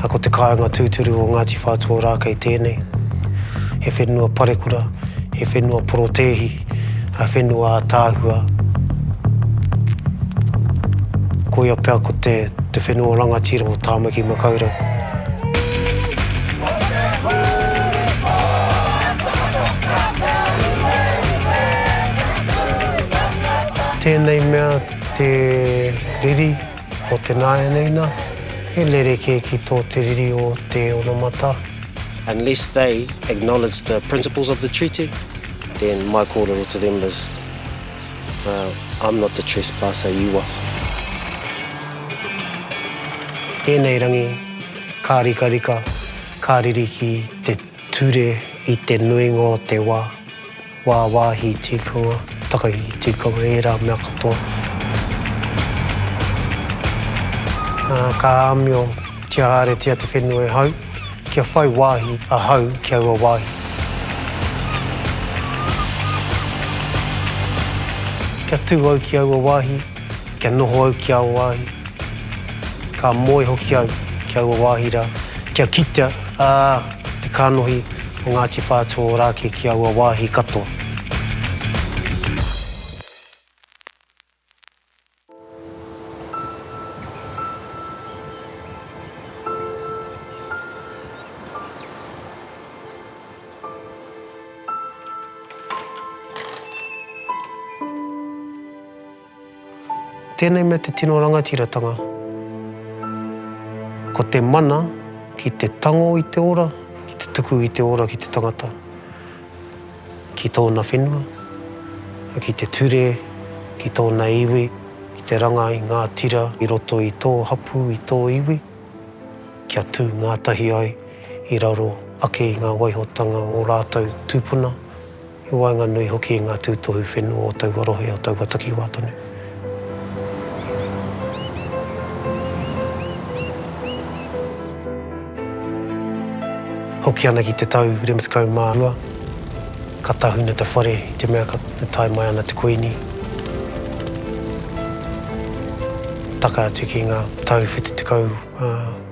A ko te kāinga tūturu o Ngāti Whātua Ōrākei tēnei. He whenua parekura, he whenua porotēhi, he whenua ātaahua. Koia pea ko te te whenua o rangatira o Tāmaki Makaurau. Tēnei mea te riri o te nāianei nā, he rerekē ki tō te riri o te onamata. Unless they acknowledge the principles of the treaty, then my kōrero to them is, I'm not the trespasser, you are. Tēnei rangi ka rikarika, ka riri ki te ture i te nuinga o te wā. Wāwāhi tīkawa, takahi tīkawa, ērā mea katoa. Ka āmio kia haeretia te whenua e hau, kia whai wāhi ahau ki aua wāhi. Kia tū au ki aua wāhi. Kia noho au ki aua wāhi, ka moe hoki au ki aua wāhi rā, kia kitea, ā, te kānohi o Ngāti Whātua ora ake ki aua wāhi katoa. Tēnei mea te tino rangatiratanga, ko te mana ki te tango i te ora, ki te tuku i te ora ki te tangata, ki tōna whenua, ki te ture, ki tōna iwi, ki te ranga i ngā tira i roto i tō hapū, i tō iwi, kia tū ngātahi ai i raro ake i ngā waihotanga o rātou tūpuna. He waenganui hoki i ngā tūtohu whenua o taua rohe, o taua takiwā tonu. Hoki ana ki te tau 2012, ka tahuna te whare i te mea ka tae mai ana te Kuini. Taka atu ki ngā tau 70,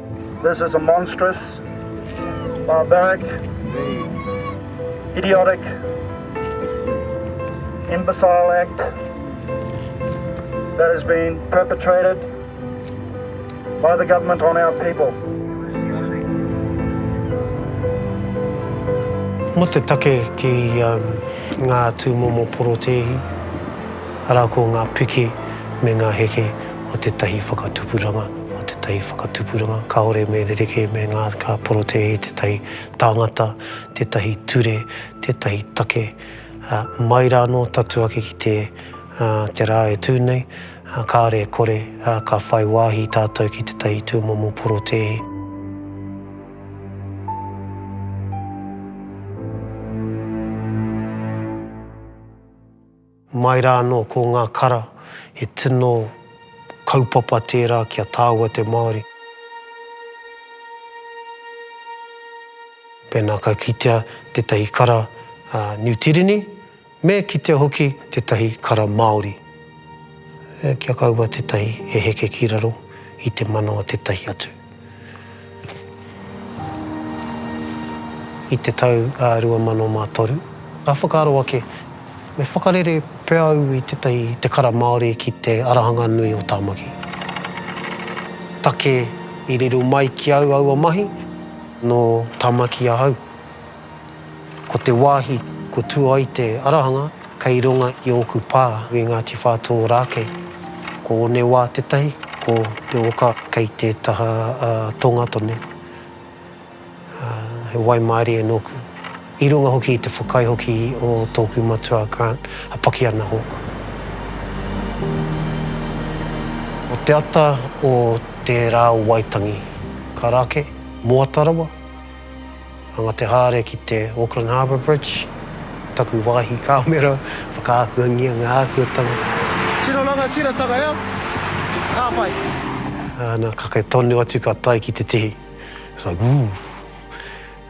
This is a monstrous, barbaric, idiotic, imbecile act that has been perpetrated by the government on our people. Mo te take ki nga tumomo porotēhi, ara ko nga piki me nga heke. o tētahi whakatupuranga, o tētahi whakatupuranga, kāore me rerekē me ngā, ka porotēhi i tētahi tāngata, tētahi ture, tētahi take, ā, mai rā anō tatu ake ki te, ā, te rā e tū nei, ā, kāore e kore, ā, ka whai wāhi tātou ki tētahi tūmomo porotēhi. Mai rā anō ko ngā kara, he tino kaupapa tērā ki a tāua te Māori. Pēnā ka kitea tētahi kara Niu Tīreni, me kitea hoki tētahi kara Māori, kia kaua tētahi e heke ki raro i te mana o tētahi atu. i te tau 2003. Ka whakaaro ake, me whakarere pea au i tētahi te kara Māori ki te arahanga nui o Tāmaki. Take i riro mai ki au aua mahi, nō Tāmaki ahau. Ko te wāhi ko Tuaite Arahanga kei runga i ōku pā i Ngāti Whātōrākei. Ko Onewā tētahi, ko Te Oka kei te taha tonga tonu. He waimarie nōku. I runga hoki i te whakai hoki o tōku matua Grant, a Pakiana Hawke. Ko te ata o te rā o Waitangi, ka rake, moata rawa. A nga te haere ki te Auckland Harbour Bridge, taku wahi kamera, whakaakuangia nga ākuatanga. Tino rangatiratanga ea, ka pai. Ana, kake tonu atu ka tae ki te tihi. It's like, ooh!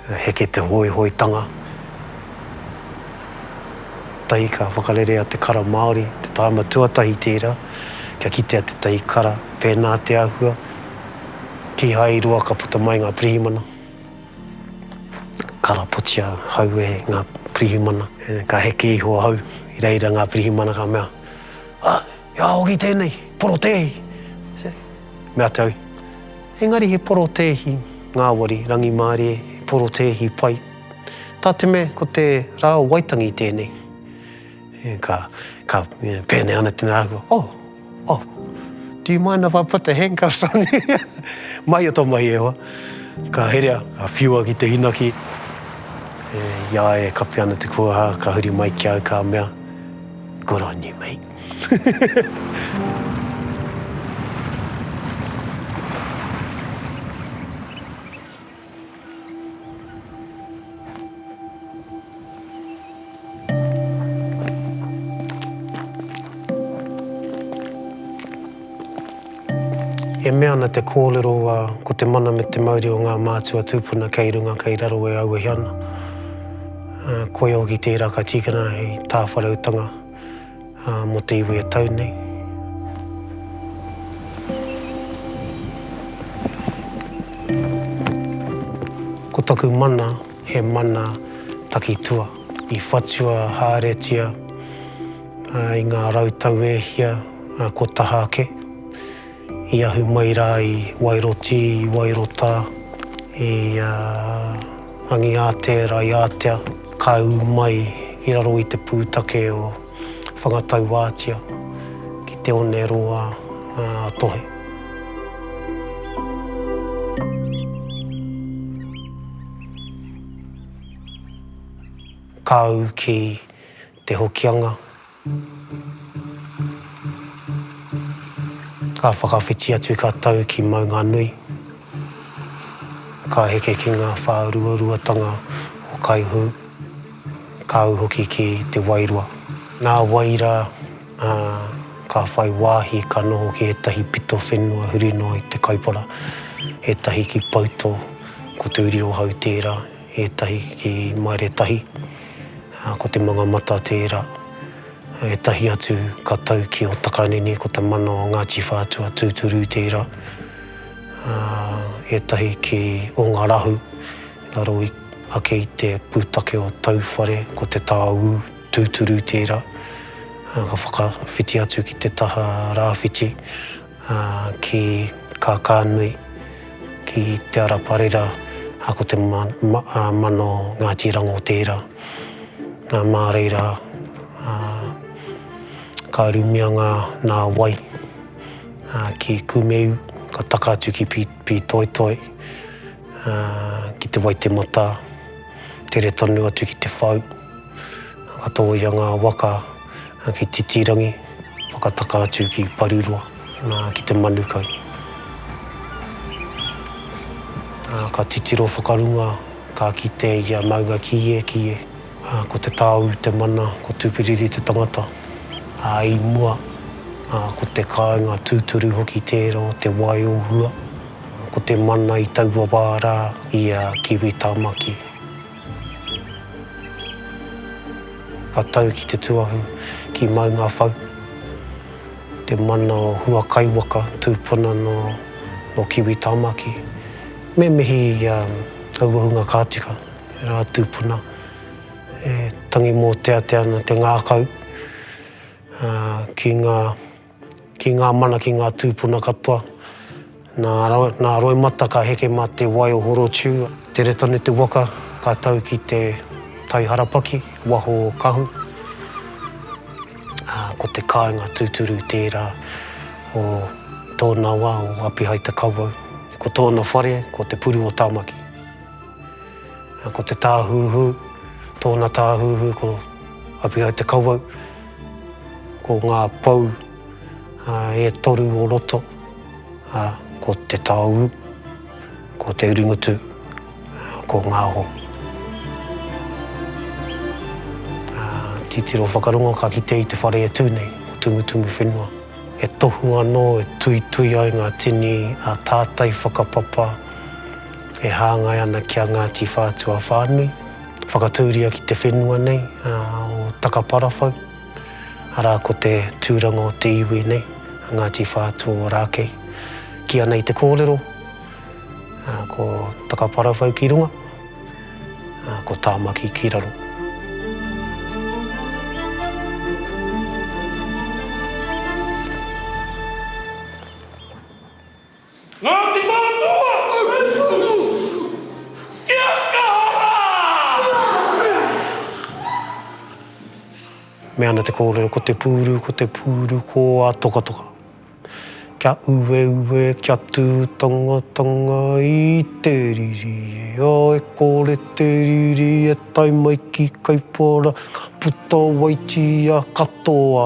Heke te hoihoitanga. Tahi ka whakarerea te kara Māori, te tāima tuatahi tērā, kia kitea te tahi kara, pēnā te āhua. Kīhai roa ka puta mai ngā pirihimana, karapotia hau e ngā pirihimana. Ka heke iho ahau i reira ngā pirihimana ka mea, Ah, he aha hoki tēnei, porotēhi? Me atu au, Engari he porotēhi ngāwari rangimārie, he porotēhi pai. Tā te mea ko te rā o Waitangi tēnei. Ka, ka pēnei ana tēnā rāua, Oh, oh, do you mind if I put the handcuffs on you? Mahia tō mahi e hoa. Ka herea, ka whiua ki te hinaki, i a ia e kapi ana te kūaha, ka huri mai ki au ka mea, Good on you, mate. E mea ana te kōrero a ko te mana me te mauri o ngā mātua tūpuna kei runga, kei raro e auahi ana. Koia hoki tērā ka tīkina hei tāwhareutanga. mō te iwi e tau nei. Ko taku mana, he mana takitua, i whatua haeretia i ngā rau tau e hia kua taha ake, i ahu mai rā i Wairoti, i Wairotā, i. Rangiātea, Raiātea, ka ū mai i raro i te pūtake o Whangatauātia ki te one roa a Tohe. Ka ū ki. Te Hokianga, ka whakawhiti atu ka tau ki Maunganui, ka heke ki ngā whāruaruatanga o Kaihū, ka au hoki ki Te Wairoa. Nā wai rā, ka whai wāhi ka noho ki ētahi pito whenua huri noa i Te Kaipara, ētahi ki Pautō, ko Tūriohau tērā, Ētahi ki Maeretahi, ko Te Mangamata tērā. Ētahi atu ka tau ki Otakanini, ko te mana o Ngāti Whātua tūturu tērā. Ētahi ki Ongarahu, raro ake i te pūtake o Tauwhare, ko Te Tāū tūturu tērā. Ka whakawhiti atu ki te taha rāwhiti. ki Kākānui, ki Te Ara Parera, a ko te mano Ngāti Rango tērā. Nā, mā reira, ka rumia ngā, nā wai, ki Kumeu, ka taka atu ki Pītoitoi, ki Te Waitematā, tere tonu atu ki Te Whau, ka tōia ngā waka, ki Titirangi, whakataka atu ki Paruroa, nā, ki te Manukau. Ā, ka titiro whakarunga, ka kite i a Maunga Kīe, Kīe, ā, ko Te Tāu te mana, ko Tūpiriri te tangata, ā, i mua, ā, ko te kāinga tūturu hoki tērā o Te Wai o Hua, ko te mana i taua wā rā i a Kiwi Tāmaki. Ka tau ki te tuahu ki Maungawhau, te mana o Hua Kaiwaka, tūpuna nō Kiwi Tāmaki. Me mihi i a Auahunga Kātika, ērā tūpuna e tangi mōteatea ana te ngākau ki ngā. Ki ngā mana, ki ngā tūpuna katoa. Nā, nā Roimata ka heke mā te wai o Horotiu. Tere tonu te waka, ka tau ki te tai harapaki, waho o Kahu. Ā, ko te kāinga tūturu tērā o tōna wā, o Apihaita-Kawau. Ko tōna whare, ko Te Puru o Tāmaki. Ko te tāhuhu, tōna tāhuhu ko Apihaita-Kawau. Ko ngā pou e toru o roto, ko te taoū, ko te uringutu, ko ngā hō. Titiro whakarongo ka kitea i te whare e tū nei, o Tumutumu Whenua. He tohu anō e tuitui ai ngā tini a tātai whakapapa e hāngai ana ki a Ngāti Whātua whānui, Whakatūria ki te whenua nei o Takaparawhau, arā ko te tūranga o te iwi nei, a Ngāti Whātua-o-Rākei. Kīa nei te kōrero, ko Takaparawhau ki runga, ko Tāmaki ki raro. Ngāti Whātua! Kia kaha rā! Me ana te kōrero ko te pūru, ko te pūru, ko a tokatoka. Kia ueue, kia tū tangatanga i te riri e a e kore te riri e tae mai ki Kaipara, ka puta wai tia katoa.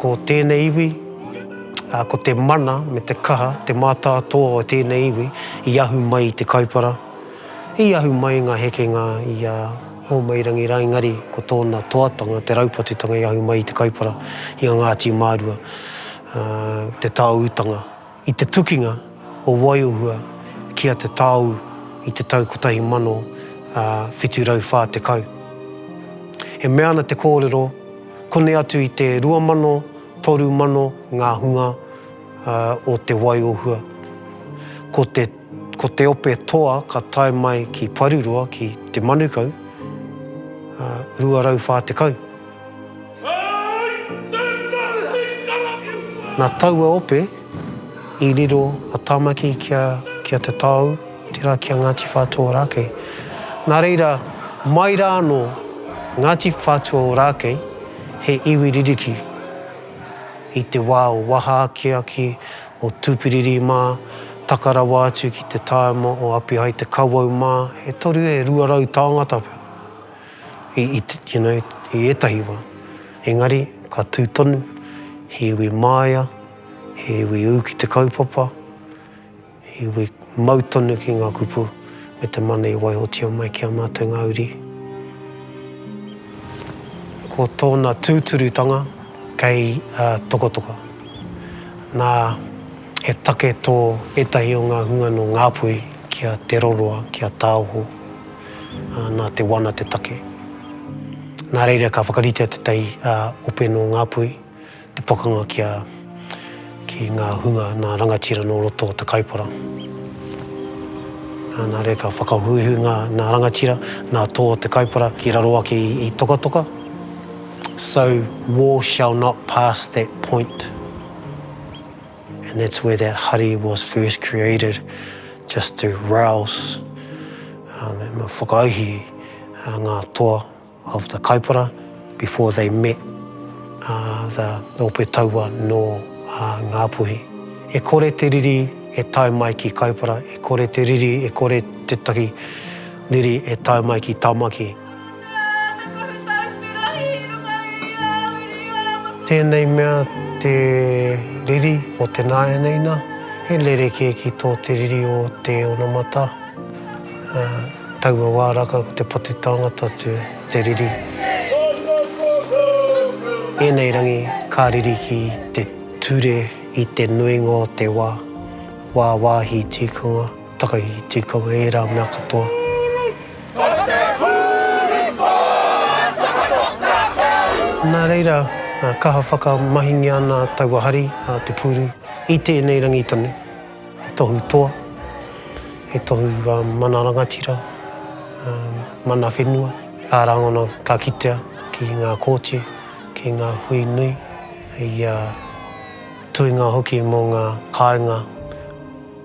Ko tēnei iwi, ko te mana me te kaha, te mātātoa o tēnei iwi i ahu mai i te Kaipara, i ahu mai i ngā hekenga i a Hōmairangi rā, engari ko tōna toatanga, te raupatutanga i ahu mai i te Kaipara, i a Ngāti Mārua, te tāūtanga. I te tukinga o Waiohua ki a Te Taoū i te tau 1740, e mea ana te kōrero, kone atu i te 2030 ngā hunga o Te Waiohua. Ko te ko te ope toa ka tae mai ki Paruroa ki Te Manukau, 240. Nā taua ope i riro a Tāmaki ki a Te Taou, tērā ki a Ngāti Whātua Ōrākei. Nā reira, mai rā anō, Ngāti Whātua Ōrākei, he iwi ririki i te wā o waha akiaki, o Tūpiriri mā, taka rawa atu ki te tāima o Apihai Te Kawau mā, e toru, e rua rau tāngata pea. i, i, you know, i ētahi wā. Engari, ka tū tonu, he iwi māia, he iwi ū ki te kaupapa, he iwi mau tonu ki ngā kupu me te mana i waihotia mai ki a mātou ngā uri. Ko tōna tūturutanga kei uh, Tokotoka. Nā, he take tō ētahi o ngā hunga nō Ngāpuhi ki a Te Roroa, ki a Tāoho, nā te wana te take. Nā reira ka whakaritea te tai ope nō Ngāpuhi, te pakanga kia ki ngā hunga nā rangatira nō roto o te Kaipara. Nā reira ka whakahuihui ngā nā rangatira, nā tō o te Kaipara ki raro ake i Tokatoka. So war shall not pass that point. And that's where that hari was first created just to rouse um, and whakaihi uh, ngā toa of the kaupara before they met uh, the Ope Taua no uh, Ngāpuhi. E kore te riri e tae mai ki Kaupara, e kore te riri, e kore te taki riri e tae mai ki Tamaki. Tēnei mea te riri o te nāianeina, he rerekē ki tō te riri o te onamata. Taua wā raka ko te patu tāngata atu te riri. Ēnei rangi ka riri ki te ture i te nuinga o te wā, wāwāhi tīkunga. Taka i te kawe ērā mea katoa. Ko te puri ko taua toka kau. Nā reira, kaha whakamahingia ana taua hari a te puri i tēnei rangi tonu. He tohu toa, he tohu mana rangatira, mana whenua, ka rangona, ka kitea ki ngā kōti, ki ngā hui nui, hei tuinga hoki mō ngā kāinga.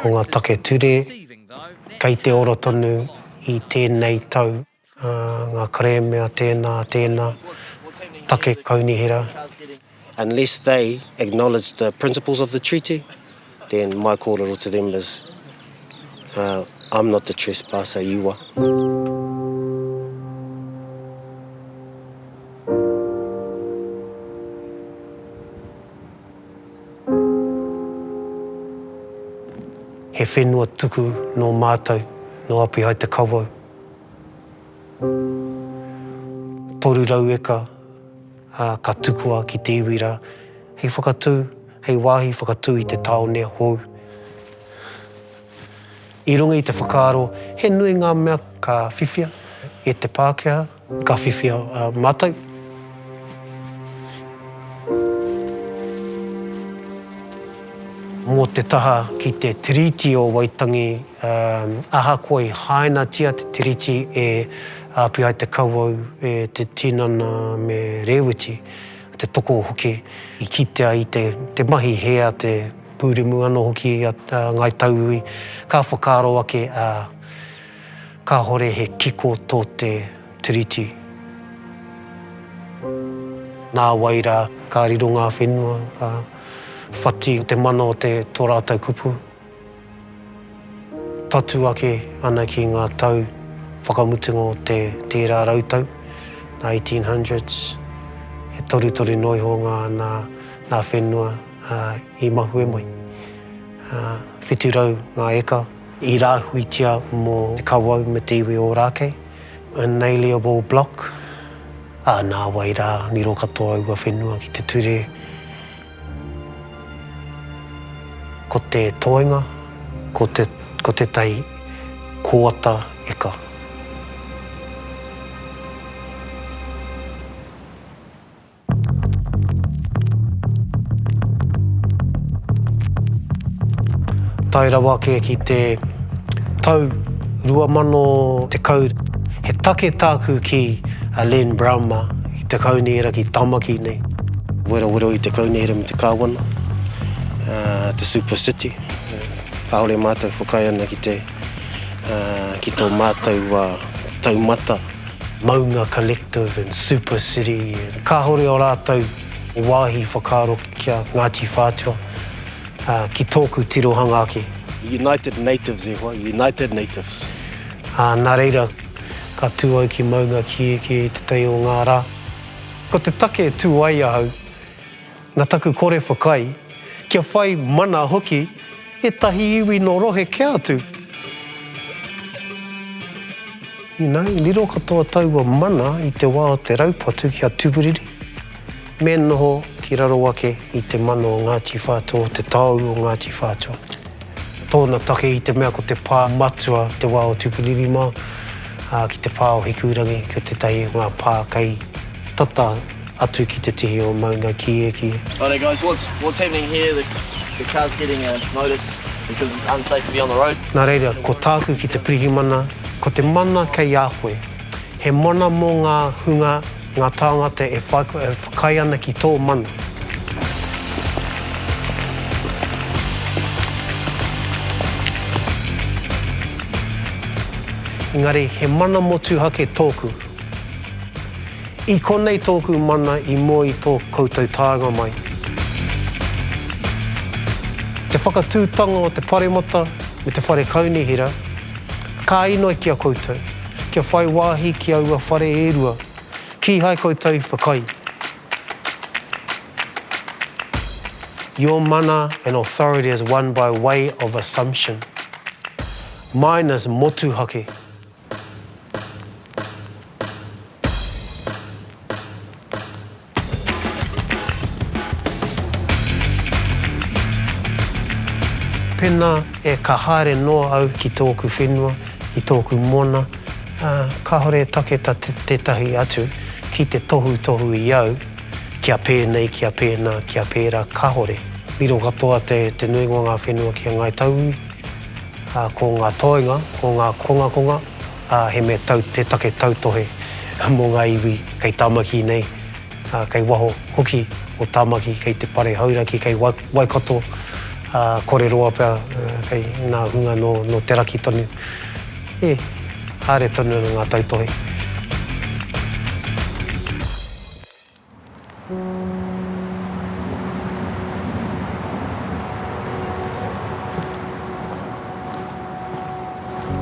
Ko ngā take ture kei te ora tonu i tēnei tau, ngā kerēme a tēnā, a tēnā, take kaunihera, Unless they acknowledge the principles of the treaty, then my kōrero to them is, I'm not the trespasser, you are. He whenua tuku nō mātou, nō Apihae Te Kawau. Toru rau eka ka tukua ki te iwi rā, hei whakatū, hei wāhi whakatū i te tāone hou. I runga i te whakaaro he nui ngā mea ka whiwhia e te Pākehā, Ka whiwhi a matou. Mo te taha ki te Tiriti o Waitangi, ahakoa i hainatia te Tiriti e api ai te kawau e te tinana me Rewiti, te toko hoki, i kitea i te mahi he a te puremu ano hoki a Ngai Tauiwi, ka whakaaro ake a. Kahore he kiko to te Tiriti. Na wai ra, ka riro nga whenua, ka whati te mana o te to ratou kupu. Tatu ake ana ki nga tau whakamutunga o te tera rau tau, nga 1800s, he torutoru noa iho nga na na whenua i mahue mai. Whitu rau nga eka. i rāhuitia mō te kawau me te iwi Ōrākei, Unalienable Bloc, ā, nāwai rā, riro katoa aua whenua ki te ture. Ko te toenga, ko te, ko tētahi kōata eka. Tae rawa ake ki te tau 2010, he take tāku ki a Len Brown mā, ki te kaunihera, ki Tamaki nei. Werawero i te kaunihera me te kāwana, te Super City, kāore mātou whakaae ana ki te. ki tō mātou taumata, Maunga Collective and Super City, kāore ō rātou wāhi whakaaro ki a Ngāti Whātua, ki tōku tirohanga ake. United Natives e hoa, United Natives. Nā reira, ka tū au ki Maunga Kiekie i tētahi o ngā rā. Ko te take e tū ai ahau. Na taku kore whakai, kia whai mana hoki etahi iwi no rohe kea atu, ina, i riro katoa taua mana i te wa o te raupatu ki a Tuburiri, me noho ki raro ake i te mana o Ngati Whatua, o te taoru o Ngati Whatua, tona take i te mea ko te pa matua i te wa o Tuburiri ma, a, ki te pa o Hikurangi, ko tetahi o nga pa kei tata. Atu ki te tihi o Maunga Kiekie. Righto guys, what's what's happening here, the the car's getting a notice because it's unsafe to be on the road. Nā reira, ko tāku ki te Pirihimana, ko te mana kei a koe. He mana mō ngā hunga, ngā tāngata e whakaae ana ki tō mana. Engari, he mana motuhake tōku. I konei tōku mana i moe i tō koutou tānga mai. Te whakatūtanga o te paremata me te whare kaunihera, ka inoi ki a koutou, kia whai wāhi ki aua whare e rua, kīhai koutou i whakaae. Your mana and authority is won by way of assumption. Mine is motuhake. Pena e ka haere noa au ki tōku whenua, ki tōku mona, ā, kāore e take ta tētahi atu ki te tohutohu i au kia pēnei, kia pēnā, kia pērā, kāore. Miro katoa te nuinga o ngā whenua ki a Ngāi Tauiwi. Ko ngā toenga, ko ngā kongakonga, he mea tau te take tautohe mō ngā iwi kei Tāmaki nei, kei waho hoki o Tāmaki, kei te Pare Hauraki, kei Waikato, kore roa pea kei ngā hunga nō te raki tonu. Ē, haere tonu ana ngā tautohe.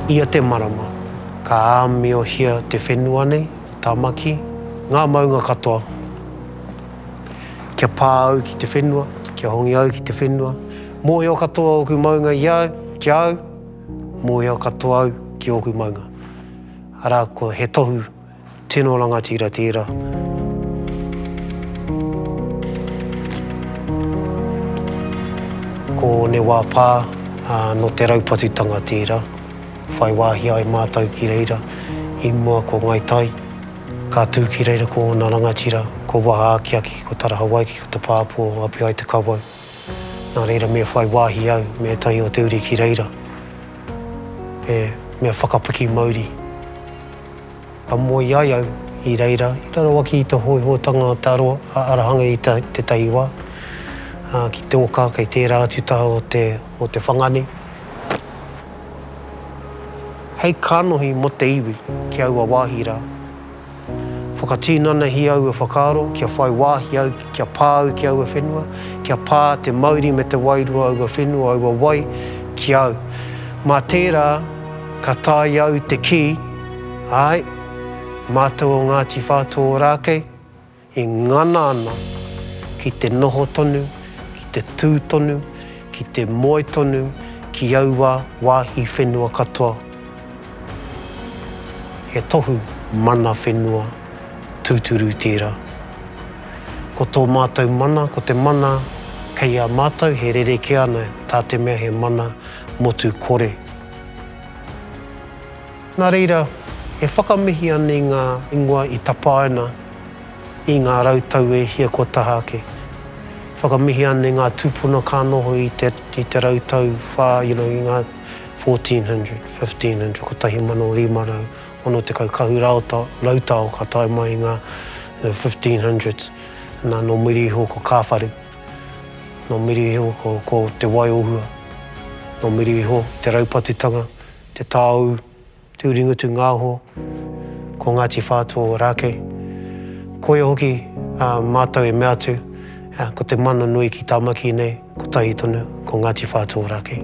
Ia te marama, ka āmiohia te whenua nei, Tāmaki, ngā maunga katoa. Kia pā au ki te whenua, kia hongi au ki te whenua, mōhio katoa ōku maunga i au, ki a au, mōhio katoa au ki ōku maunga. Arā, ko he tohu. Tino rangatira tera. Ko ne wa pa no te raupatutanga tera. Whai wahi ai matou ki reira i mua ko Ngai Tai. Ka tu ki reira ko ona rangatira, ko Waha Akiaki, ko Tara Hawaiki, ko Te Papo o Apiaitekawaru. Nā reira me whai wāhi au me ētahi o te uri ki reira, he mea whakapiki mauri. Ka moe ai au i reira, i raro ake i te hōihōtanga o te aroha, a Arahanga i tētahi wā, ā, ki te oka kei tērā atu taha o te, o te whanga nei. Hei kānohi mō te iwi ki aua wāhi rā. Whakatinanahi aua whakaaro kia whai wāhi au, kia pā au ki aua whenua, kia pā te mauri me te wairua aua whenua, aua wai, ki au. Mā tērā ka tae i au te kī, āe, mātou o Ngāti Whātua Ōrākei, e ngana ana ki te noho tonu, ki te tū tonu, ki te moe tonu ki aua wāhi whenua katoa, he tohu mana whenua tūturu tērā. Ko tō mātou mana, ko te mana kei a mātou, he rerekē ana, tā te mea he mana motu kore. Nā reira, e whakamihi ana i ngā ingoa i tapaina i ngā rau tau e hia kua taha ake. Whakamihi ana i ngā tūpuna ka noho i te, i te rau tau whā, you know, i ngā 1400, 1500, 1560 kahu raota, rautao ka tae mai i ngā 1500s. Nā, nō muri iho ko Kāwhare, nō muri iho ko, ko Te Wai o Hua, nō muri iho te raupatutanga Te Taou, Tūringutu-ngāho, ko Ngāti Whātua o Rākei. Koia hoki a mātou e mea atu, ko te mana nui ki Tāmaki nei, kotahi tonu, ko Ngāti Whātua o Rākei.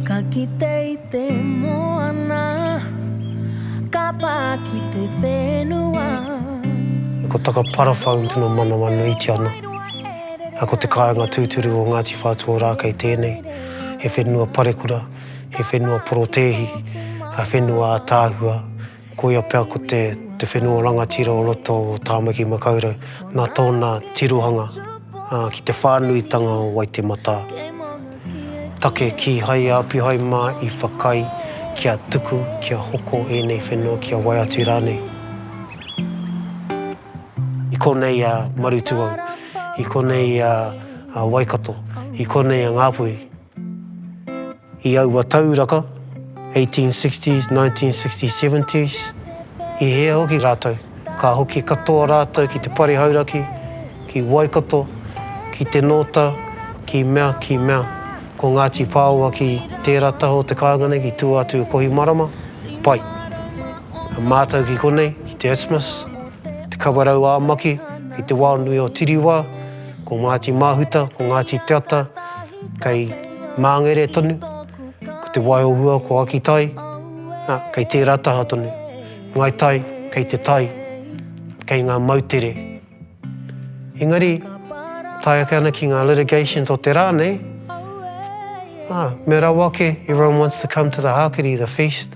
Ka kite i te moana, ka pā ki te whenua. Ko Takaparawhau tino manawa nuitia ana, ā, ko te kāinga tūturu o Ngāti Whātua Ōrākei tēnei. He whenua parekura, he whenua porotēhi, ā, whenua ātaahua. Koia pea ko te whenua rangatira o roto o Tāmaki Makaurau, nā tōna tirohanga ki te whānuitanga o Waitematā. Take kīhai a Apihae mā i whakaae kia tuku, kia hoko ēnei whenua, kia wai atu rānei. I konei a Marutūau, i konei a Waikato, i konei a Ngāpuhi. I aua tauraka, 1860s, 1960s, 70s, i hea hoki rātou? Ka hoki katoa rātou ki te pari hauraki, ki Waikato, ki Te Nōta, ki mea, ki mea. Ko Ngāti Pāoa ki tērā taha o te kāinga nei, ki tua atu i Kohimarama, pai. Mātou ki konei, ki te Isthmus, te Kawerau ā Maki, ki te wao nui o Tiriwā, Ko Ngāti Māhuta, ko Ngāti Te Ata, kei Māngere tonu, ko Te Wai-o-Hua, ko Akitai, ā, kei tērā taha tonu. Ngāi Tai, kei te tai, kei ngā moutere. Engari, tae ake ana ki ngā litigations o te rā nei, ā, me rawa ake, everyone wants to come to the hākiri, the feast,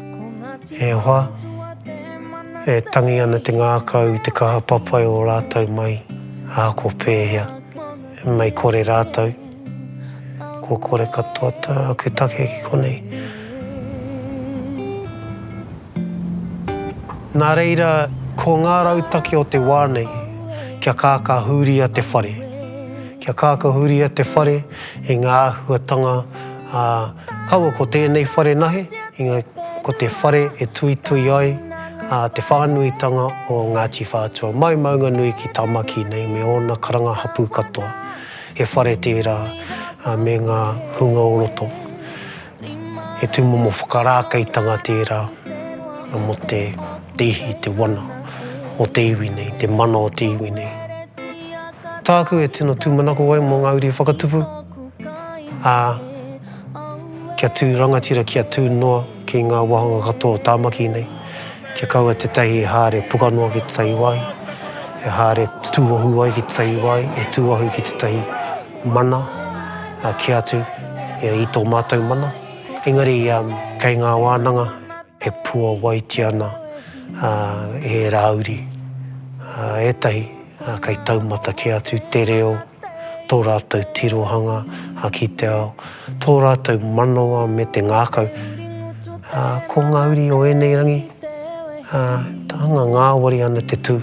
E hoa, e tangi ana te ngākau i te kaha papai o rātou mai, ā, ko pēhea, mei kore rātou? Kua kore katoa tāku take ki konei. Nā reira, ko ngā rautaki o te wā nei, kia kākahuria te whare, kia kākahuria te whare i ngā āhuatanga, Ā, kaua ko tēnei whare nahe, ina ko te whare e tuitui ai te whānuitanga o Ngāti Whātua mai Maunganui ki Tāmaki nei me ōna karanga hapū katoa. He whare tērā me ngā hunga o roto. He tūmomo whakarākeitanga tērā mō te ihi, te wana o te iwi nei, te mana o te iwi nei. Tāku e tino tūmanako ai mō ngā uri whakatupu. ā, kia tū rangatira, kia tū noa ki ngā wāhanga katoa o Tāmaki nei, kia kaua tētahi e haere puka noa ki tētahi wāhi, e haere tūohu ai ki tētahi wāhi, e tūohu ki tētahi mana, ā, kē atu i tō mātou mana. Engari, kei ngā wānanga e puāwaitia ana ērā uri, ā, ētahi, ā, kei taumata kē atu te reo, tō rātou tirohanga ki te ao, tō rātou manawa me te ngākau. Ā, ko ngā uri o ēnei rangi, ā, te anga ngāwari ana te tū,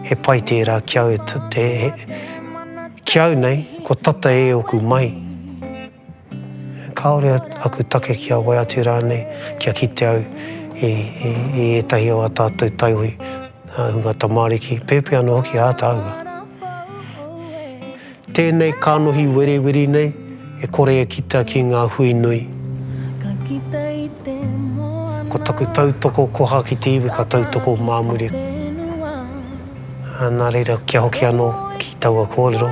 he pai tērā ki au, ki au nei, kua tata e oku mahi. Kāore aku take kia wai atu rānei, kia kite au i ētahi o ā tātou taiwi, ā hunga tamāriki, pēpi anō hoki ā tāua. Tēnei kānohi wereweri nei e kore e kita ki ngā hui nui. Ko taku tautoko koha ki te iwi ka tautoko mā muri. Nā reira, kia hoki anō ki taua kōrero.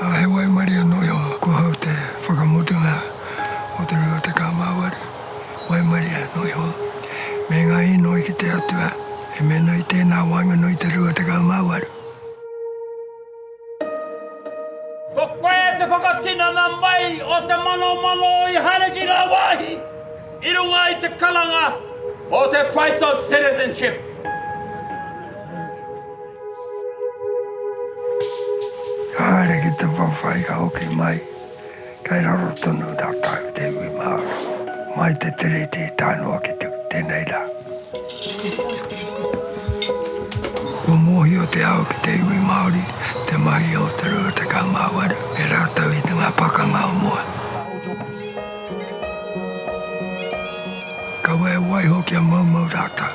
Ā, he waimarie anō iho kua hau te whakamutunga o te rua tekau mā waru, waimarie anō iho, me ngā inoi ki te Atua, e mea ana i tēnā waenganui te rua tekau mā waru. Ko koe te whakatinana mai o te manomano i haere ki ngā wāhi i runga i te karanga o te Price of Citizenship. Ka haere ki te whawhai ka hoki mai. Kei raro tonu ratou te iwi Maori mai te Tiriti i tae noa ki tenei ra. Kua mohio te ao ki te iwi Maori te mahi o te 28 e ratou i nga pakanga o mua. Kaua e waiho kia moumou ratou.